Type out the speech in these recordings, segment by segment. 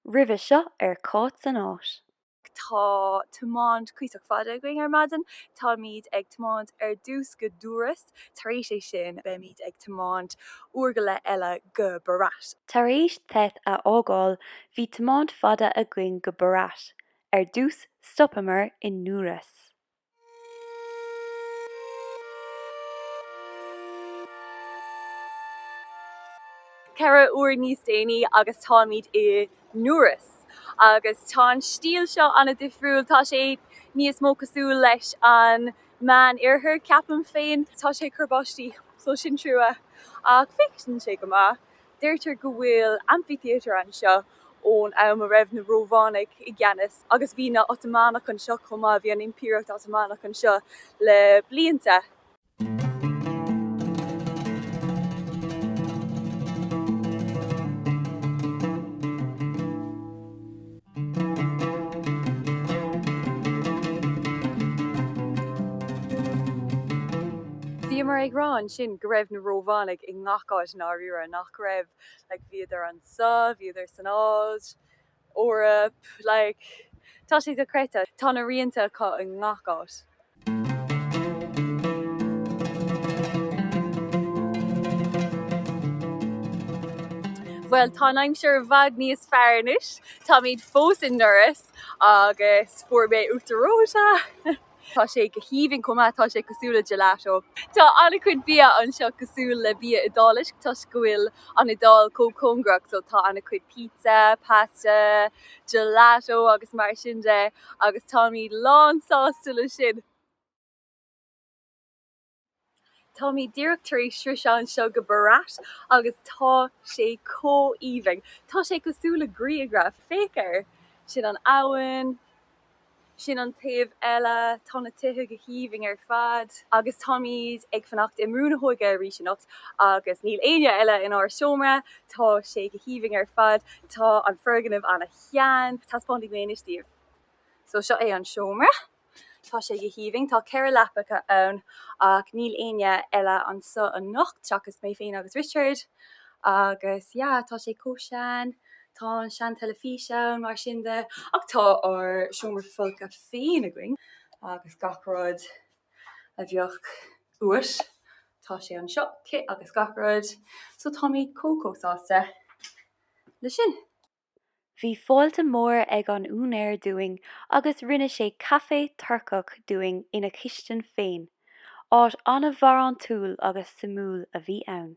roimhe seo ar Cáit san áit. Tá tiomáint cuíosach fada againn ar maidin. Táimid ag tiomáint ar dtús go Durrës. Tar éis é sin, beimid ag tiomáint uair go leith eile go Berat. Tar éis Theth a fhágáil, bhí tiomáint fada againn go Berat. Ar dtús, stopamar in Durrës. ceithre uair níos déanaí agus táimid in Durrës. Agus tá an stíl seo an-difriúil, tá sé níos mó cosúil leis an Meánoirthear, ceapaim féin. Tá sé ag cur báistí, so sin trua, ach féachann sé go maith. Deirtear go bhfuil amphitheatre anseo ón am a raibh na Rómhánaigh i gceannas agus bhí na Otamánaigh anseo chomh maith, bhí an Impireacht Otamánach anseo le blianta. Bhíomar ag rá ansin go raibh na Rómhánaigh i ngach áit i ndáiríre, nach raibh? Like, bhíodar anso, bhíodar san Áis, Eoraip, like, tá sé dochreidte. Tá na rianta acu i ngach áit. Bhuel, tá an aimsir i bhfad níos fearr anois. Táimid fós in Durrës agus fuair mé uachtar reoite. Tá sé go haoibhinn chomh maith, tá sé cosúil le gelato. Tá an-chuid bia anseo cosúil le bia Iodáilis toisc go bhfuil an Iodáil chomh cóngarach so tá an-chuid pizza, pasta, gelato agus mar sin de. agus táimid lán sásta le sin. Táimid díreach tar éis sroiseadh anseo go Berat agus tá sé chomh aoibhinn. Tá sé cosúil le grianghraf. Féach air. Sin an abhainn. Sin an taobh eile. Tá na tithe go haoibhinn ar fad. Agus táimid ag fanacht i mbrú na hóige arís anocht agus níl éinne eile inár seomra. Tá sé go haoibhinn ar fad. Tá an foirgneamh ana shean, taispeánfaidh mé anois daoibh. So, seo é an seomra. Tá sé go haoibhinn. Tá ceithre leapacha ann ach níl éinne eile anseo anocht seachas mé féin agus Richard agus, yeah, tá sé chomh sean. Tá an seanteilifís ann, mar sin de, ach tá ár seomra folctha féin againn agus gach rud a bheadh uait, tá sé anseo, cith agus gach rud. So, táimid chomh, chomh sásta leis sin. Bhí fáilte mór ag an úinéir dúinn agus rinne sé caife Turcach dúinn ina chistin féin. Áit an-bharántúil agus suimiúil a bhí ann.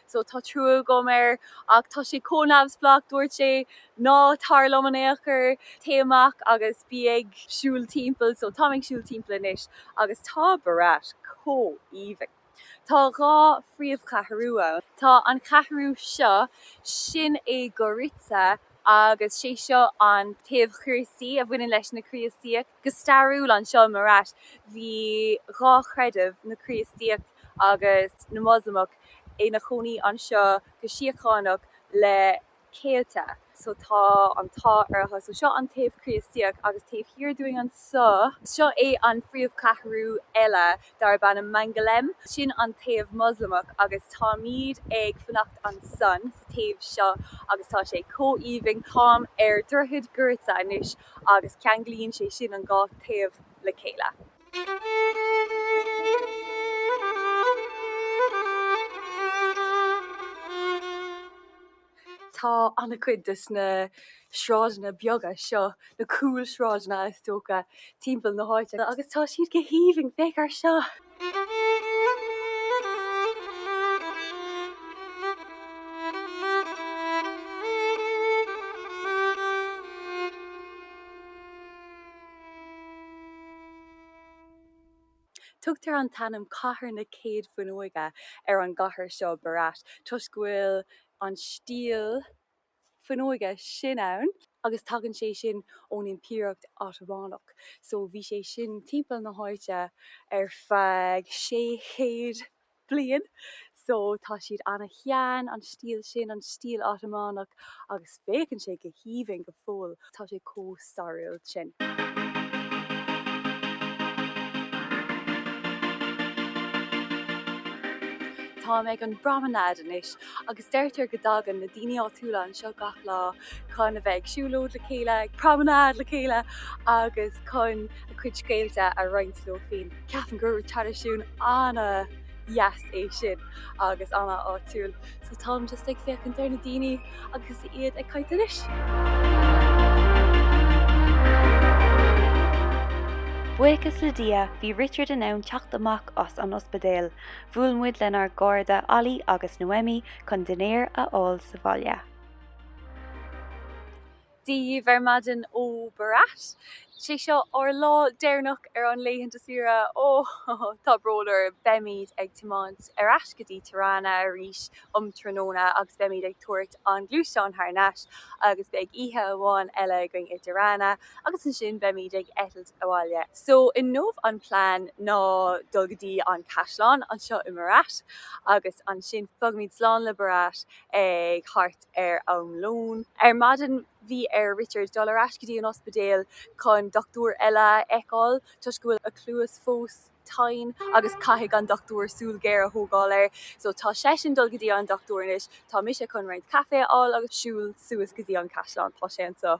so tá trua agam air ach tá sé chomh neamhspleách dúirt sé ná tar liom in aon chor, téigh amach agus bí ag siúl timpeall so táim ag siúl timpeall anois agus tá Berat chomh aoibhinn. Tá dhá phríomhcheathrú ann, tá an cheathrú seo, sin é Gorica agus sé seo an taobh Críostaí a bhaineann leis na Críostaíoch, go stairiúil anseo i mBerat bhí dhá chreideamh, na Críostaíoch. agus na Moslamach ina chónaí anseo go síochánach le céadta. So tá an t-ádh orthu. So seo an taobh Críostaíoch agus taobh thiar dúinn anseo, seo é an phríomhcheathrú eile darb ainm Mangalem, sin an taobh Moslamach agus táimid ag fanacht ansan sa taobh seo agus tá sé chomh aoibhinn. Táim ar dhroichead Gorica anois agus ceanglaíonn sé sin an dhá thaobh le chéile. Tá an-chuid desna sráideanna beaga seo, na cúlsráideanna is dócha, timpeall na háite agus tá siad go haoibhinn. Féach ar seo! Tugtar an t-ainm Cathair na Céad Fuinneoige ar an gcathair seo, Berat, toisc go bhfuil an stíl fuinneoige sin ann, agus tagann sé sin ón Impireacht Otamánach, so bhí sé sin timpeall na háite ar feadh 600 bliain, so tá siad ana shean, an stíl sin, an stíl Otamánach, agus féachann sé go haoibhinn go fóill, tá sé chomh stairiúil sin. Táim ag an bpromenade anois, agus deirtear go dtagann na daoine áitiúla anseo gach lá chun a bheith ag siúlóid le chéile, ag promenade le chéile, agus chun. a cuid scéalta a roinnt leo féin. Ceapaim gur traidisiún an-deas é sin agus an-áitiúil so táim just ag féachaint ar na daoine agus iad ag caint anois. Buíochas le Dia bhí Richard in ann teacht amach as an ospidéal, bhuail muid lenár gcairde Ali agus Noemi chun dinnéar a fháil sa bhaile. daoibh ar maidin ó Berat. Sé seo ár lá deireanach ar an laethanta saoire. Ó, tá brón orm. Beimid ag tiomáint ar ais go dtí Tirana arís um tráthnóna agus beimid ag tabhairt an gluaisteán thar n-ais agus beidh oíche amháin eile againn i dTirana agus ansin beimid ag eitilt abhaile. So inniu an plean ná dul go dtí an caisleán anseo i mBerat agus ansin fágfaimid slán le Berat ag thart. ar am lóin. Ar maidin bhí ar Richard dul ar ais go dtí an ospidéal chun dochtúir eile a fheiceáil toisc go bhfuil a chluas fós tinn agus caithfidh an dochtúir súil ghéar a thógáil air. So tá seisean dul go dtí an dochtúir anois. Tá mise chun roinnt caifé a fháil agus siúl suas go dtí an caisleán. Tá sé an-.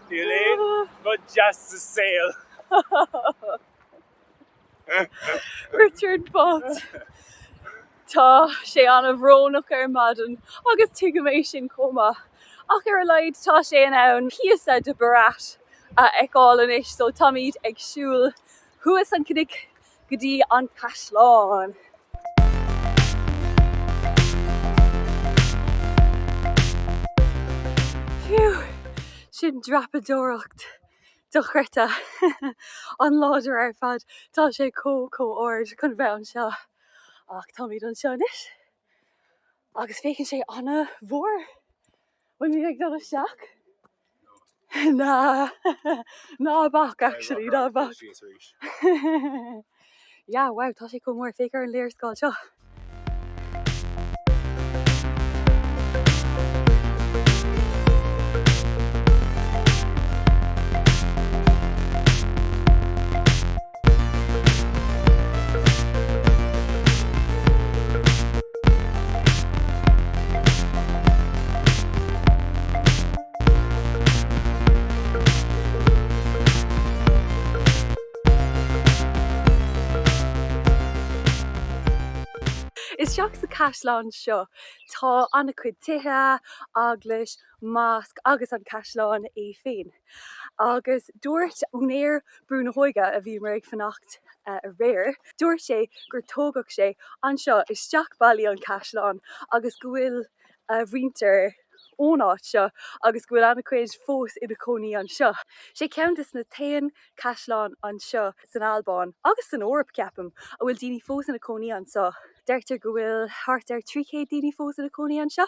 Níl aon rud deas sa saol. Richard bocht. Tá sé an-bhrónach ar maidin agus tuigim é sin chomh maith. Ach ar a laghad tá sé in ann píosa de Berat a fheiceáil anois so táimid ag siúl thuas an cnoic go dtí an caisleán. Phew! Sin dreapadóireacht dochreidte. An-láidir ar fad. Tá sé chomh, chomh ard chun bheith anseo. Ach táimid anseo anois agus féachann sé an-mhór. Bhuel an mbeimid ag dul isteach. Ná bac actually ná bac. Yeah, wow, tá sé chomh mór, féach ar an léarscáil seo. Isteach sa caisleán seo tá an-chuid tithe, eaglais, mosc agus an caisleán é féin. Agus dúirt úinéir Brú na hÓige, a bhíomar ag fanacht aréir, dúirt sé gur tógadh sé anseo isteach ballaí an caisleán agus go bhfuil a mhuintir ón áit seo agus go bhfuil an-chuid fós ina cónaí anseo. Sé ceann de na t-aon caisleán anseo san Albáin, agus san Eoraip ceapaim, a bhfuil daoine fós ina cónaí anseo. Deirtear go bhfuil thart ar 300 daoine fós ina cónaí anseo.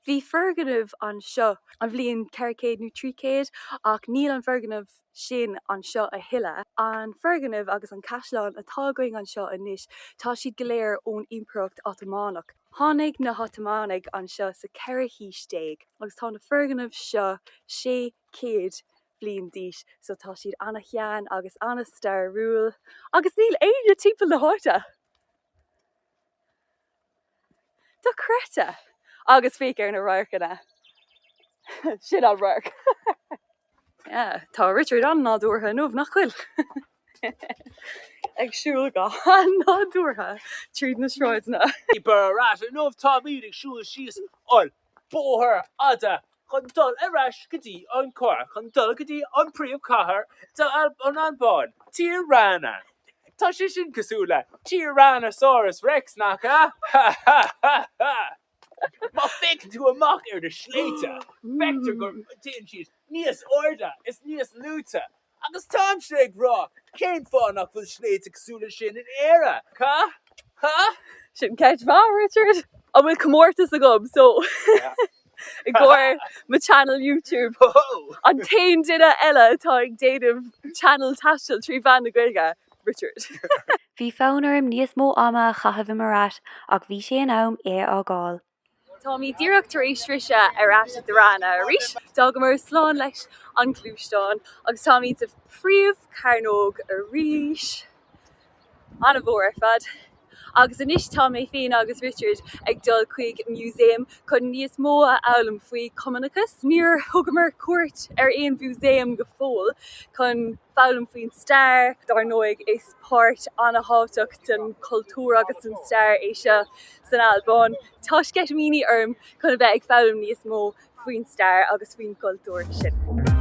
Bhí foirgneamh anseo. an bhliain ceithre chéad nó trí chéad ach níl an foirgneamh sin anseo a thuilleadh. An foirgneamh agus an caisleán atá againn anseo anois, tá siad go léir ón Impireacht Otamánach. Tháinig na hOtamánaigh anseo sa cheathrú haois déag agus tá na foirgnimh seo sé chéad bliain d'aois so tá siad ana-shean agus ana-stairiúil agus níl éinne timpeall na háite! dochreidte! Agus féach ar na radharcanna. Sin an radharc! Yeah, tá Richard an-nádúrtha inniu, nach bhfuil? Ag siúl go han-nádúrtha tríd na sráideanna. Berat inniu, táimid ag siúl síos an. Bóthar fada chun dul ar ais go dtí an carr chun dul go dtí an príomhchathair den Albáin, Tirana. Tá sé sin cosúil le Tyrannosaurus Rex, nach ea? Ha ha ha ha! Má fhéachann tú amach ar na sléibhte, feictear go dtéann siad níos airde is níos luaite. Agus tá an sé ag rá, cén fáth nach bhfuil sléibhte cosúil leis sin in Éire? Ha? Ha? Sin ceist mhaith, Richard. An bhfuil comórtas agam? So, i gcomhair mo channel YouTube, an t-aon duine eile atá ag déanamh channel taistil trí mheán na Gaeilge, Richard. Bhí fonn orm níos mó ama a chaitheamh i mBerat ach bhí sé in am é a fhágáil. Táimid díreach tar éis sroicheadh ar ais i Tirana arís, d'fhágamar slán leis an ngluaisteán agus táimid sa phríomh-charnóg arís. An-mhór ar fad. Agus anois tá mé féin agus Richard ag dul chuig músaem chun níos mó a fhoghlaim faoi Chumannachas. Níor thugamar cuairt ar aon mhúsaem go fóill chun foghlaim faoin stair, dar ndóigh, is. Páirt an-thábhachtach den chultúr agus den stair é seo san Albáin. Tá sceitimíní orm chun a bheith ag foghlaim níos mó faoin stair agus faoin gcultúr sin.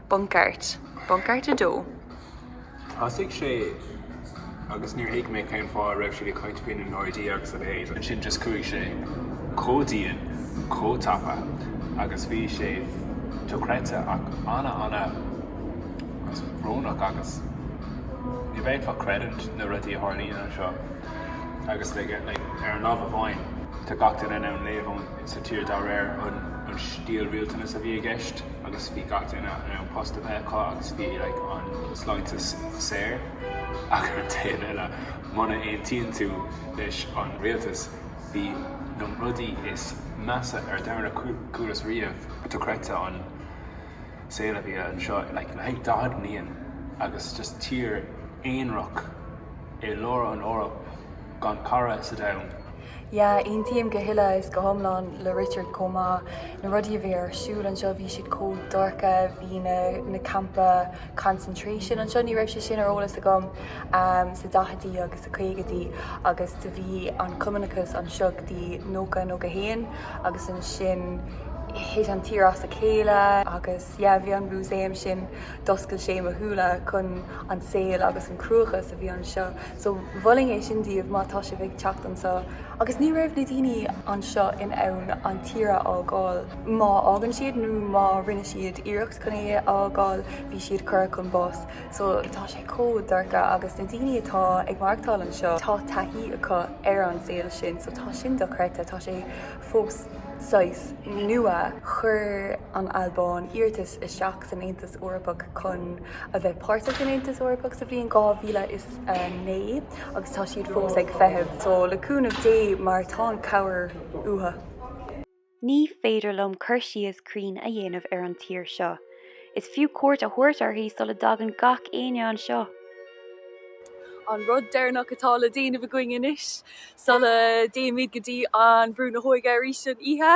Bunk'Art, Bunk'Art 2. Thosaigh sé agus níor thuig mé cén fáth a raibh siad ag caint faoi na Gardaí agus a leithéid. Ansin just chuaigh sé chomh dian, chomh tapa agus bhí sé dochreidte ach ana ana bhrónach agus ní bhféadfá creidiúint na rudaí a tharlaíonn anseo agus ar an lámh amháin tá gach duine in ann léamh sa tír de réir an stíl rialtais a bhí i gceist agus bhí gach duine in ann post a bheith acu agus bhí an sláinteachas saor ach ar an taobh eile muna aontaíonn tú leis an rialtas bhí na rudaí is measa ar domhan a chualas riamh dochreidte an saol a bhí anseo le haghaidh 40 bliain agus just tír aonrach i lár an Eoraip. gan cara sa domhan. Yeah, aontaím go huile is go hiomlán le Richard chomh maith. Na rudaí a bhí ar siúl anseo, bhí siad chomh dorcha, bhí na na campa concentration anseo, ní raibh sé sin ar eolas agam, ehm, sa daicheadaí agus sa caogaidí agus do bhí an cumannachas anseo go dtí nócha nócha a haon agus ansin thit an tír as a chéile agus yeah, bhí an músaem sin, d'oscail sé mo shúile chun an saol agus an cruachás a bhí anseo. So mholfainn é sin daoibh má tá sibh ag teacht anso. Agus ní raibh na daoine anseo in ann an tír a fhágáil. Má fhágann siad nó má rinne siad iarracht chun é a fhágáil, bhí siad curtha chun báis. So tá sé chomh dorcha. Agus na daoine atá ag maireachtáil anseo, tá taithí acu ar an saol sin. So tá sin dochreidte. Tá sé fós saghas nua. Chuir an Albáin iarratas isteach. san Aontas Eorpach chun a bheith páirteach san Aontas Eorpach sa bhliain 2009 agus tá siad fós ag feitheamh, so le cúnamh Dé, mar tá an chabhair uathu. Ní féidir liom cur síos cruinn a dhéanamh ar an tír seo. Is fiú cuairt a thabhairt uirthi sula dtagann gach éinne anseo. An rud deireanach atá le déanamh againn anois sula dtéimid go dtí an brú na hóige arís san oíche.